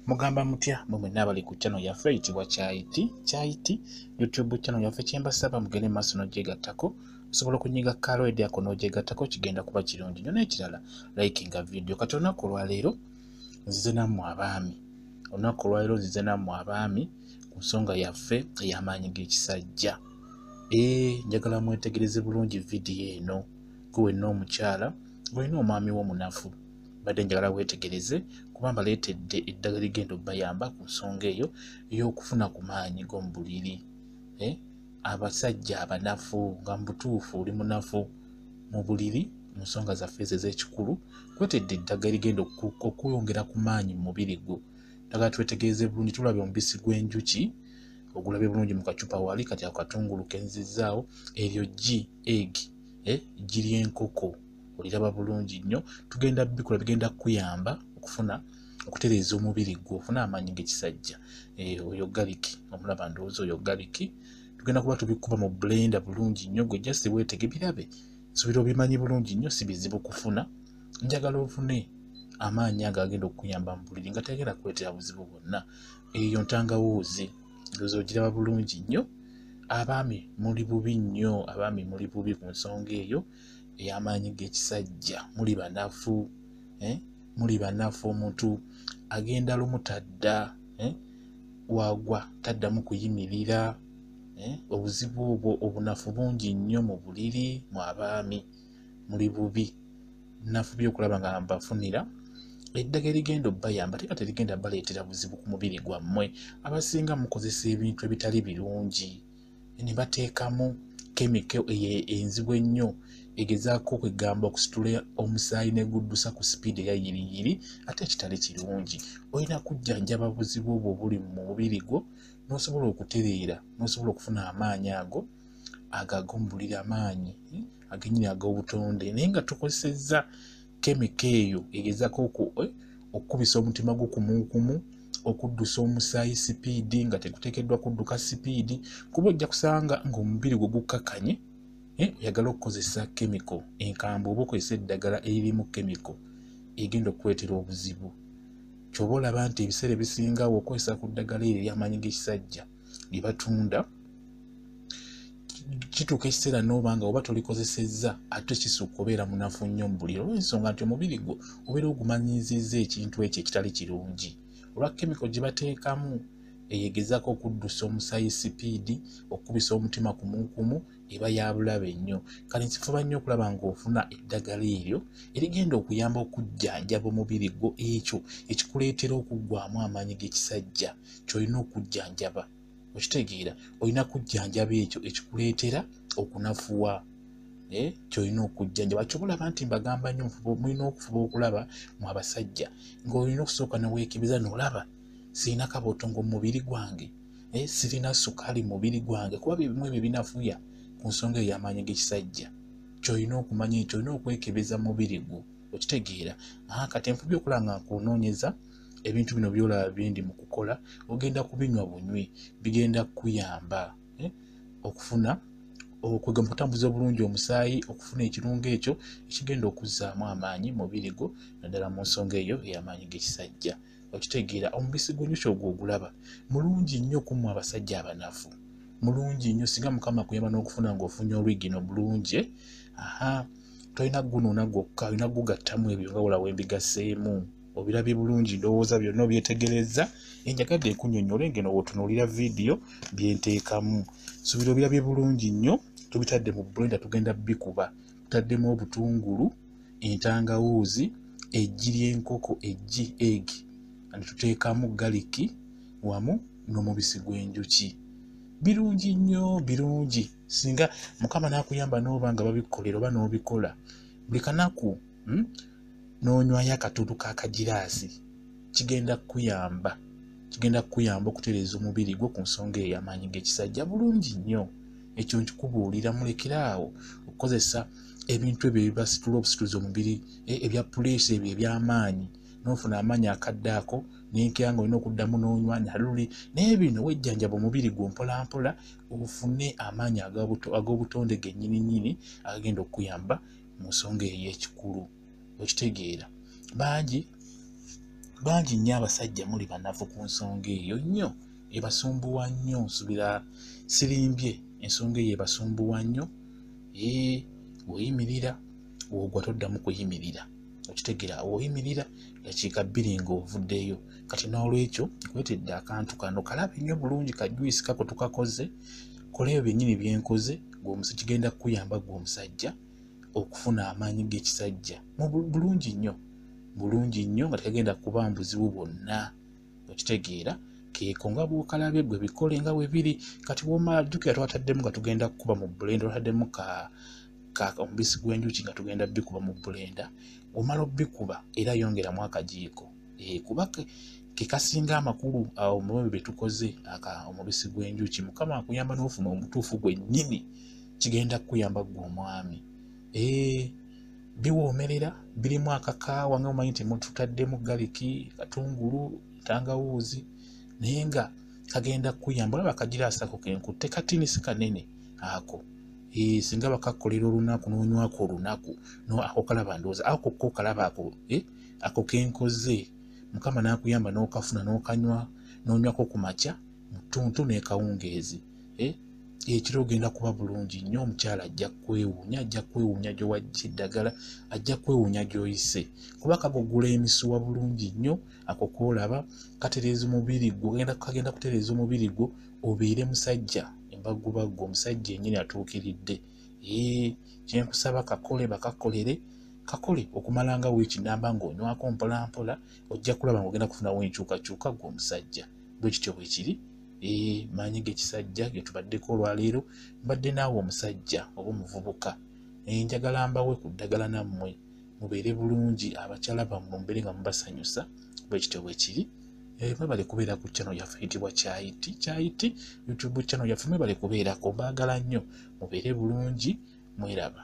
mugamba mutya mwe mwenna abali ku channel yaffe eyitibwa kyayiti kyayiti youtube channel yaffe kyembasaba mugende maaso nogyegattako osobola okunyiga kaalo edyako nogyegattako kigenda kuba kirungi nyo nekirala likinga video kati olunaku olwaleero nzize nammwe abaami olunaku olwaleero nzize nammwe abaami ku nsonga yaffe ey'amaanyi g'ekisajja ee njagala mwetegereze bulungi vidiyo eno gwe wenna omukyala gwe wenna omwami wo munafu mbadde njagala weetegereze kuba mbaleetedde eddagala ligenda obayamba ku nsonga eyo ey'okufuna ku maanyi g'omu buliri eh, abasajja abanafu nga mubutuufu oli munafu mu buliri mu nsonga zaffe ezo ez'ekikulu kwetedde eddagala ligenda okweyongera ku maanyi mu mubiri gwo dagala twetegereze bulungi tulabye omubisi gw'enjuki ogulabye bulungi mu kacupa wali kati akatungulu kenzizaawo eryo gi egi eh, giri enkoko oliraba bulungi nnyo tugenda bikola bigenda kukuyamba okufuna okutereeza omubiri gwo ofuna amaanyi gekisajja eh, oyo galiki omulaba ndowooza oyo galiki tugenda kuba tubikuba mu blenda bulungi nnyo gwe just weetege birabe nsubira obimanyi bulungi nnyo si bizibu kufuna njagala ofune amaanyi ago agenda okukuyamba mu buliri nga tegenda kuleetera buzibu bwonna eyo ntangawuuzi ndowooza ogiraba bulungi nnyo abaami muli bubi nnyo abaami muli bubi ku nsonga eyo ey'amaanyi g'ekisajja muli banafu eh? muli banafu omuntu agenda lumu tadda eh? wagwa taddamu kuyimirira eh? obuzibu obwo obunafu bungi nnyo mu buliri mu abaami muli bubi nafu byokulaba nga mbafunira eddagala erigenda obayamba teka terigenda baleetera buzibu ku mubiri gwammwe abasinga mukozesa ebintu ebitali birungi ne bateekamu kemiko eyo enzibu ennyo egezaako okwegamba okusitula omusaayi neguddusa ku sipiidi eya yiriyiri ate ekitali kirungi olina kujjanjaba buzibu obwo obuli mu mubiri gwo n'osobola okutereera n'osobola okufuna amaanyi ago agagumbulira amaanyi agenyini ag'obutonde naye nga tukozesezza kemika eyo egezako eh, okukubisa omutima gwo kumukumu okuddusa omusaayi sipiidi nga tegutekeddwa kudduka sipiidi kuba ojja kusanga ngaomubiri gwe gukkakanye eh, oyagala okukozesa kemiko enkambwe oba okozesa eddagala eririmu kemiko egenda okukuleetera obuzibu kyoba olaba nti ebiseera ebisingawo okozesa ku ddagala eryo eryamaanyi g'ekisajja lye batunda kituuka ekiseera n'oba nga oba tolikozesezza ate kisuka obeera munafu nnyo mu buliro olwensonga nti omubiri gwo obeera ogumanyiizizza ekintu ekyo ekitali kirungi olwa kemiko gye bateekamu eyegezako okuddusa omusayi sipiidi okukubisa omutima kumukumu eba yabulabe nnyo kale nsifuba nnyo okulaba ngaofuna eddagala eryo erigenda okuyamba okujjanjaba omubiri gwo ekyo ekikuleetera okuggwamu amaanyi g'ekisajja kyolina okujjanjaba okitegeera olina kujjanjaba ekyo ekikuleetera okunafuwa eh, kyolina okujjanjaba kyobalaba nti mbagamba nyo mulina okufuba okulaba mu abasajja ngaolina okusooka neweekebeza nolaba sirina kabotongo mu mubiri gwange eh, sirina sukaali mu mubiri gwange kuba byebimu ebyo binafuya ku nsonga ey'amaanyi g'ekisajja kyolina okumanya ekyo olina okwekebeza mubiri gwo okitegeera kati enfubi okulaba nga nkunoonyeza ebintu bino byolaba byendi mu kukola ogenda kubinywa bunywi bigenda kukuyamba eh, okufuna okwegamba okutambuza obulungi omusaayi okufuna ekirungo ekyo ekigenda okuzzaamu amaanyi mubiri gwo naddala mu nsonga eyo ey'amaanyi g'ekisajja okitegeera omubisi gw'enjuki ogwo ogulaba mulungi nnyo okumu abasajja abanafu mulungi nnyo singa mukama kuyamba n'okufuna ng'ofunye olwigino bulungi aha tolina gunuuna gwokka olina gugattamu ebyo nga wolawo embigaseemu obirabye bulungi ndowooza byonna obyetegerezza enjagadde ekunyonyola engeno wotunuulira vidiyo byenteekamu subira obirabye bulungi nnyo tubitadde mu blenda tugenda bikuba tutaddemu obutungulu entangawuuzi eggi ly'enkoko eggi eg nituteekamu galiki wamu n'omubisi gw'enjuki birungi nnyo birungi singa mukama n'akuyamba n'oba nga babikukolera oba n'obikola buli kanaku hmm? n'onywayo akatuutu ka kagiraasi kigenda kukuyamba kigenda kukuyamba okutereeza omubiri gwo ku nsonga eyo amaanyi g'ekisajja bulungi nnyo ekyo nkikubuulira mulekere awo okukozesa ebintu ebyo ebibasitula obusituzi omubiri e, ebya puleesa ebyo eby'amaanyi n'ofuna amaanyi akadde ako nenkera nga olina okuddamu n'onywa naluli naye bino wejjanjaba omubiri gwo mpolampola ofune amaanyi ag'obutonde gennyini nnyini agagenda okukuyamba mu nsonga eyo ekikulu okitegeera bangi bangi nnyo abasajja muli banafu ku nsonga eyo nnyo ebasumbuwa nnyo nsubira sirimbye ensonga eyo ebasumbuwa nnyo ee weyimirira wogwa toddamu kuyimirira okitegeera woyimirira dakiika bbiri ng'ovuddeyo kati n'olwekyo kwetedde akantu kano kalabe nnyo bulungi kajuyisi kako tukakoze kola ebyo byennyini bye nkoze gweomusa kigenda kukuyamba gwe omusajja okufuna amaanyi g'ekisajja bulungi nnyo bulungi nnyo nga tekagenda kuba mbuzibu bwonna okitegeera keeko nga bwokalabye gwe bikole nga bwe biri kati womala jjukira twataddemu nga tugenda kukuba mu bulenda twataddemu ka omubisi gw'enjuki nga tugenda bikuba mu bulenda omala obikuba era yongeramu akajiiko eh, kuba kekasinga amakulu awo mubyo byetukoze aka omubisi gw'enjuki mukama akuyamba n'ofuna omutuufu gwennyini kigenda kukuyamba gwe omwami eh, biwoomerera birimu akakaawa nga mumanyi nti mututaddemu galiki katungulu tangawuuzi naye nga kagenda kukuyamba olaba akagira asako kenku tekatini si kanene ako eh, singa bakakkolera olunaku n'onywako olunaku no ako kalaba ndowooza ako ko kalaba ako eh? ako kenkoze mukama nakuyamba nokafuna nokanywa nonywako ku makya mutuntu nekawungeezi eh? ekiro ogenda kuba bulungi nnyo omukyala ajja kwewuunya ajja kwewuunya gyowajja eddagala ajja kwewuunya gyoyise kuba kagogula emisuwa bulungi nnyo ako kolaba katereeza omubiri gwo kagenda kutereeza omubiri gwo obeere musajja embagubagu omusajja enyini atuukiridde ee kyenkusaba kakole bakakolere kakole okumalanga wiiki namba ng'onywako mpolampola ojja kulaba ngaogenda kufunawo enkyukakyuka gwe omusajja bwe kityo bwe kiri ee maanyi g'ekisajja ge tubaddeko olwaleero mbadde naawe omusajja oba omuvubuka enjagala mbawe ku ddagala nammwe mubeere bulungi abakyala bammwe mubeere nga mubasanyusa bwekityo bwekiri eh, mwebale kubeera ku channel yaffe yitibwa kyayiti kyayiti youtube channel yaffe mwebale kubeerako mbaagala nnyo mubeere bulungi mweraba